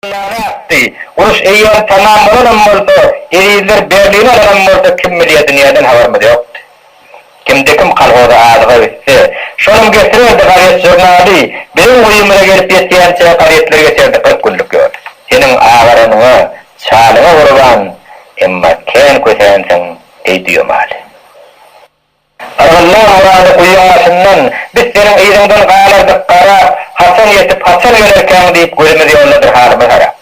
Näme ätdi? Uruş eýýäm tamam bolanam bolsa, ezizler Berlini alanam bolsa kim bilýär dünýäden habarymyz ýokdy. Kimde-kim kolhoza azyga gitse, şonam getirerdi gazet-žurnaly, biziň guýymyza gelip ýetýänçä gazetleri geçerdi kyrk günlük ýol. Seniň agaranyňa, çalyňa gurban, emma kän kösänsiň, eý düýemaly. Yrgynlar Murady guýyň başyndan, Biz seniň yzyňdan galardyk garap, Haçan ýetip, haçan ýönerkäň diýip, gözümiz ýoldadyr halymyz harap.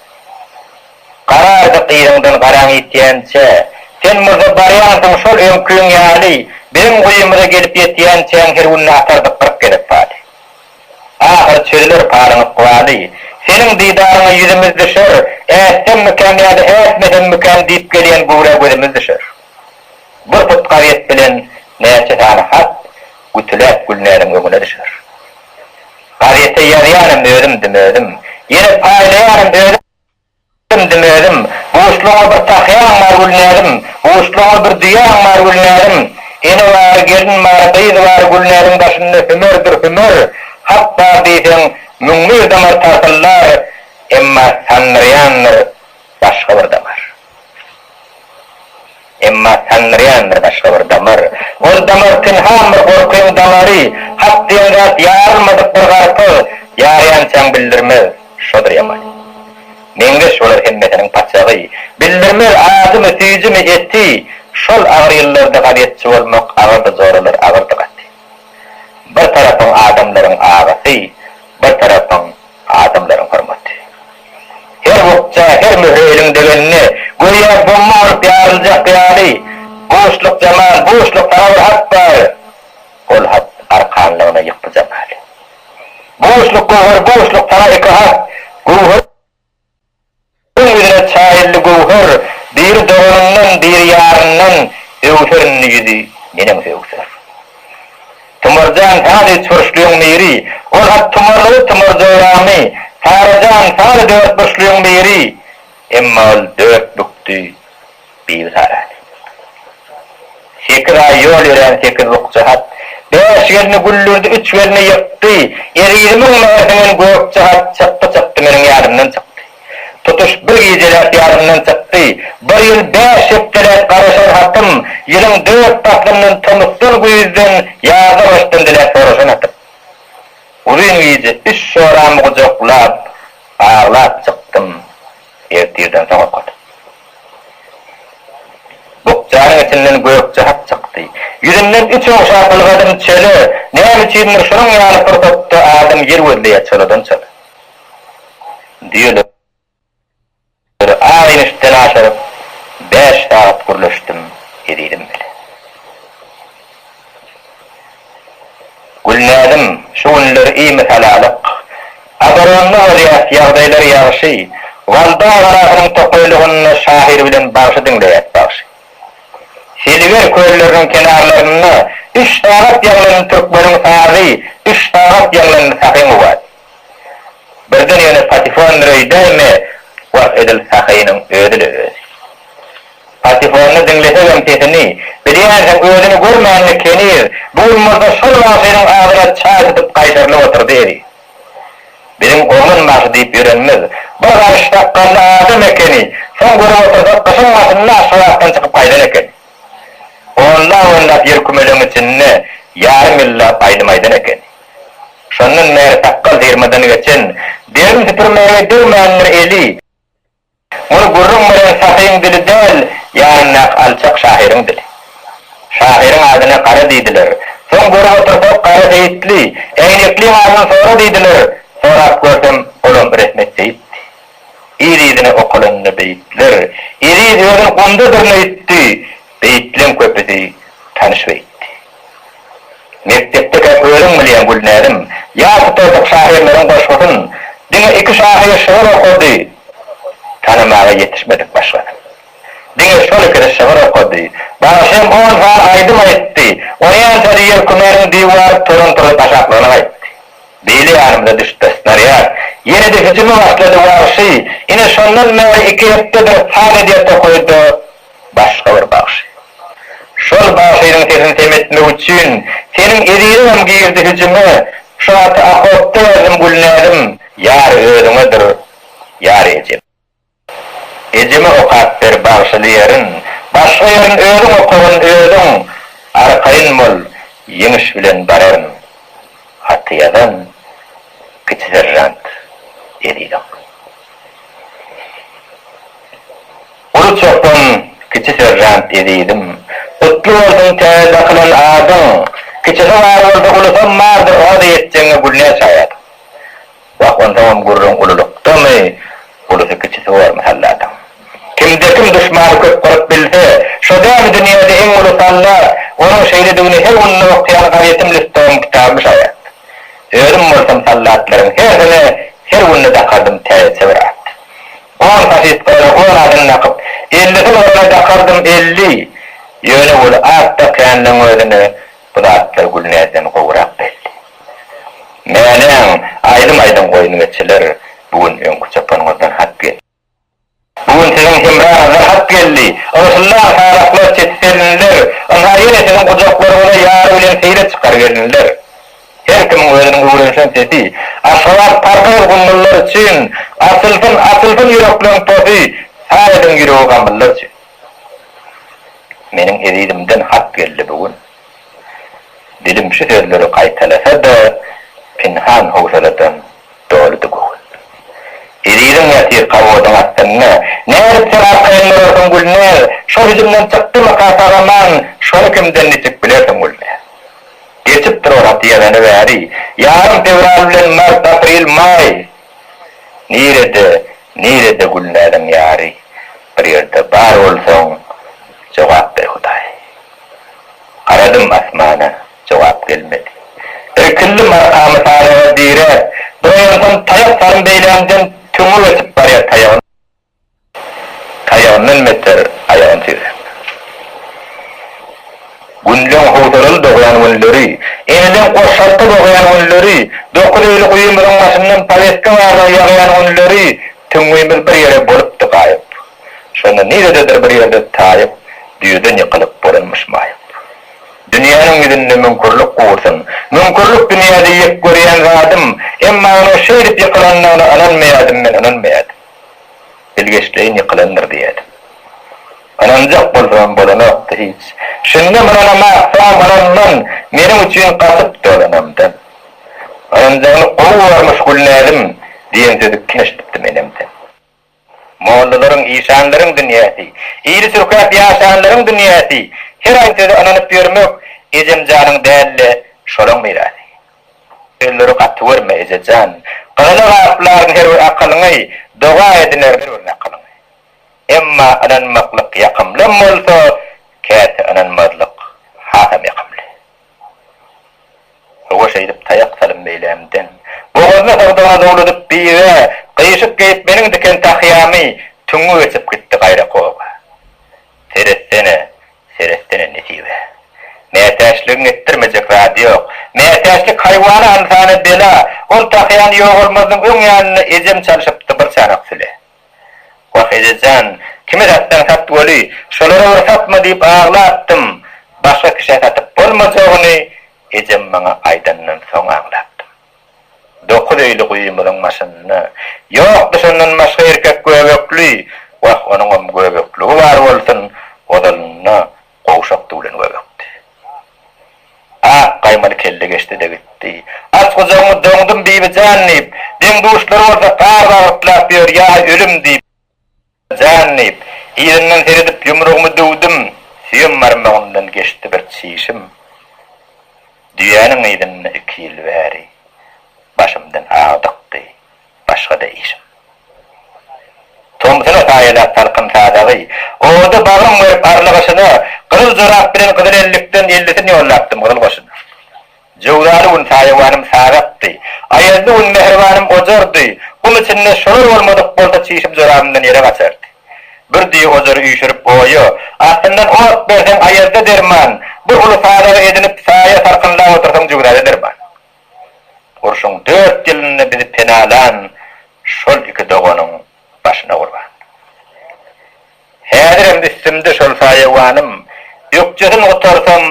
Garardyk yzyňdan garaň ýitýänçä, Sen murda barýansyň şol öňkiň ýaly, Biziň guýymyza gelip ýetýänçäň her günde atardyk kyrk gezek paly. Ahyry çözüler palyň ykbaly, Seniň didaryňa ýüzümiz düşer, Ätsem mikäm ýa-da ätmesem mikäm diýip gelýän güwrä gözümiz düşer. Bir tut gazet bilen näçe sany hat gütüläp Gülnäziň öňüne düşer. Gazete ýazýanym özümdim özüm. Ýene paýlaýanym özümdim özüm. Buşlugyňa bir takýaň bar Gülnäzim, buşlugyňa bir düýäň bar Gülnäzim. Ene bar, gelin bar, gyz bar Gülnäziň daşynda hümerdir hümer. Hat bar diýseň, müň bir damar tartyldar, emma sandyrýandyr başga bir damar. Emma sandyran bir başga bir damar. Ol damar pynhan bir gorkyň damary, hak diýen zat ýarylmadyk bir garpyz, ýarýançaň bildirmez. Şodur ýamany. Meňzeş olar hemmesiniň paçagy. Bildirmez ajymy, süýjimi, eti. Şol agyr ýyllarda gazetçi bolmak agyrdy joralar, agyrdy gaty. Bir tarapyň adamlaryň agasy, bir tarapyň adamlaryň hormaty. Her bukja, her möhre eliň degende, göýä bomba bolup ýaryljak ýaly, Buşluk Jamal, Buşluk, saňa bir hat bar! Ol hat arkanlygyna ýykdy Jamaly. Buşluk Göwher, Buşluk, saňa iki hat! Göwher. Ol ýüzüne çaýyldy göwher, Biri doganyndan, biri ýaryndan Öwser indi ýüzi, neneň söwser. Tumar jan, sady üçburçlyň miri, Ol hat tumarlygy tumar joramy, Sara jan, sady dörtburçlyň miri, Emma ol dört bükdi. Bibisara. Sekiz aý ýol ýörän sekiz bukja hat. Bäş gelni güldürdi, üç gelni ýykdy. Ezizimiň mährinden Gökje hat çykdy-çykdy, meniň ýadymdan çykdy. Tutuş bir gijeläp ýadymdan çykdy. Bir ýyl bäş hepdeläp garaşan hatym, ýylyň dört paslyndan, tomusdan, güýzden, ýaza, gyşdan diläp soraşan hatym. Uzyn gije üç joramy gujaklap, aglap çykdym. Ýerit ýerden soň okat. Bukjanyň içinden gök jahat çykdy. Ýüzünden üç ogşa gylgadym çöle, näme üçindir şunuň ýaly pursatda adam ýer gözleýär çoladan çola. Düýeleri agyny üstden aşyryp bäş sagat gürleşdim ezizim bilen. Gülnäzim, şu günler iými salalyk. Agaranma bolýas, ýagdaýlar ýagşy. Walda agarasynyň tokaýlygynda şahyr bilen bagşy diňleýäs, bagşy. Seliger kölleriniň kenarlarynda üç sagat ýaňlandy türkmeniň sazy, üç sagat ýaňlandy Sahy Mubat. Birden ýöne Patifon Mireýdäými was edil Sahynyň özi-le özi. Patifony diňlesegem sesini, bilýänsiň özüni görmänini keniz, bu gün bolsa şol wagşynyň adyna çaý tutup gaýtarylyp otyrdy eziz. Biziň oglan bagşy diýip ýörenimiz bir garyş sakgally adam ekeni, soň görüp otyrsak gyşyň başynda Aşgabatdan çykyp gaýdan ekeni. Onlap-onlap ýer kümelegiň içinde ýarym ýyllap aýdym aýdan ekeni. Şondan bäri sakgal syrmadan geçen, derin süpürmäge degmändir eli. Muny gürrüň beren sahyň dili däl, ýanyndaky alçak şahyryň dili. Şahyryň adyna Gara diýdiler. Soň görüp otursak, Gara Seýitli, Äýnekliň adyny sora diýdiler. Sorap görsem, olam Rehmet Seýitdi. Yz-yzyna okalanynda beýtler, Eziz özün gumda dyrna ýitdi. Beýtleň köpüsi tanyş beýtdi. Mekdepde gep özüň bilýäň Gülnäzim. Ýa tutardyk şahyrlaryň goşgusyn. Diňe iki şahyr şygyr okady. Tanamaga ýetişmedik başgasyn. Diňe şol ikisi şygyr okady. Bagşym on sany aýdym aýtdy. Oýan sözi ýelkümeniň diwar turun-turun taşaklygyny gaýtdy. Beýle ýanymyza düşüpdir snarýad. Ýene-de hüjüme başlady wagşy. Ine şondan bäri iki hepdedir saz edýär tokaýda. başga bir bagşy. Şol bagşynyň sesini semetmek üçin seniň eziziňem girdi hüjüme Şu haty okopda ýazdym Gülnäzim ýar özüňedir ýar ejem. Ejeme okap ber bagşyly ýerin Başga ýerin özüň okagyn özüň Arkaýyn bol ýeňiş bilen bararyn Haty ýazan kiçi seržant eziziň. Uly çopan, kiçi seržant ezizim. Gutly bolsun täze dakylan adyň! Kiçisi bar bolsa, ulusam bardyr, oda ýetjegiňe gülne şaýat. Wah, onsoňam gürrüň ululykdamy, ulusy-kiçisi bor mahallatyň. Kimde-kim duşmany köp gyryp bilse, şo däli dünýäde iň uly sallat, onuň şeýledigine her günde okaýan gazetim listogym kitabym şaýat. Özüm bolsam sallatlaryň hersine her günde dakardym täzeçe bir at. On sahypkada on adym dakyp. Ellisin olara dakardym elli. Ýöne ol at dakýanlaň özüne bu zatlar Gülnäzden gowurak belli. Mäläň, aýdym aýdyň goýun geçiler, bu gün öňki çopanyňyzdan hat geldi. Bu gün siziň hemraňyzdan hat geldi. Ygşyllan saraklar çeti selinler, ynha ýene siziň gujaklaryňyza ýary bilen seýle çykar gelinler. Her kimiň özüniň öwrenişen sesi. Aşgabat parkymyz gummullar üçin, Açylsyn, açylsyn ýürekleriň tosy, Saýadyň ýüregi gamyllar üçin. Meniň ezizimden hat geldi bu gün. Dilim şu sözleri gaýtalasa-da, Pinhan howsaladan doludy göwün. Eziziň ýatyr kawodyň astynda, Nädip sen arkaýyn durarsyň, Gülnäz? Şol hüjümden çykdymyka sag-aman, Şony kimden niçik bilersiň, Gülnäz? Geçip duralat ýeleni bäri. Ýarym fewral bilen mart, aprel, maý. Nirede, nirede Gülnäziň ýary? Bir ýerde bar bolsaň, jogap ber Hudaý. Garadym asmana, jogap gelmedi. Irkildim arkamy sanaga diräp. Duraýansam taýak salym beýlämden tüňňi geçip barýar taýagyň. Taýagyndan beter aýagyn tizräk. Günleň howsalaly dogýan günleri, eneleň goşalta dogýan günleri, dokuz eýli guýymyzyň başyndan powetka barlag ýagýan günleri tüňňimiz bir ýere bolupdy gaýyp. Şonda nirededir bir ýerde taýyp, düýeden ýykylyp bolanmyş maýyp. Dünýäniň ýüzünde müňkürlik gursyn. Müňkürlik dünýäde ýek görýän zadym. Emma onuň şeýdip ýykylandygyna ynanmaýadym men, ynanmaýadym. Bilgeşleýin ýykylandyr diýýärdim. Ynanjak bolsam bolanokdy hiç. Şundam ynanamak soňam ynanman, meniň üçin gaçyp dolanandan. Ynanjagyny gowy görmüş Gülnäzim diýen sözi keşdipdi menemden. Mollalaryň, işanlaryň dünýäsi, ili çürkäp ýaşanlaryň dünýäsi, her aýsöze ynanyp ýörmek ejemjanyň däl-de, şolaň mirasy. Ömür gaty görme, eje jan. Gyzyny gaplaryn her bir akylyňy, Doga edinerin her bir nakylyňy. Emma ynanmaklyk ýakymlym bolsa, Käte ynanmazlyk hasam ýakymly. Howa şeýdip taýak salym meýlämden, Bogazyny sagdygyna zowladyp biga, Gyşyk geýip meniň diken tahýamy, Tüňňi geçip gitdi gaýrak oba. Seretsene, seretsene nesibe. Mätäçligiň etdirmejek zady ýok. Mätäçlik haýwana ynsana bela. Ol tahýany ýogalmazynyň öň ýanynda ejem çalşypdy bir çanak süle. Wah ejejan, kime satsaň sat weli, şolara bir satma diýip aglapdym. Başga kişä satyp bolmajagyny ejem maňa aýdandan soň aňlapdym. Dokuz öýli guýymyzyň başynda. Ýokdy şondan başga erkek göbekli, wah, onuňam göbekligi bar bolsun, ozalynda gowşak düwlen göbekdi. Ak gaýmaly kelle geçdi-de gitdi. Aç gujagyňy doňdum, Bibi jan diýip, deň-duşlary bolsa gar bagyrtlap ýör, ýa ölüm diýip. Jan! diýip, yzyndan seredip ýumrugymy döwdüm, süýem barmagymdan geçdi bir çişim. Düýäniň yzynda iki ýyl bäri başymdan agdykdy, başga-da işim. Tomsuna saýalap salkyn sadagy, oda bagrym gerip arly gyşyna, gyzyl jorap bilen gyzyl ellikden ellisini ýollapdym gyzyl goşuna. Jöwzaly gün saýawanym sagakdy. Aýazly gün mähribanym ojardy. Gum içinde şolar bolmadyk bolsa çişim jorabymdan ýere gaçardy. Bir düýe ojary üýşürip oýa, astyndan ot berseň aýazda derman, bir uly sadaga edinip saýa salkynlap otursaň jöwzada derman. Urşuň dört ýylynda bizi penalan şol iki doganyň başyna gurban. Häzirem üstümde şol saýawanym. Ökjesini gutarsam,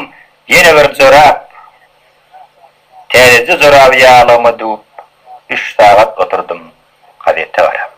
ýene bir jorap. Täzeje joraby ýaglygyma düwüp, üç sagat oturdym gazete garap.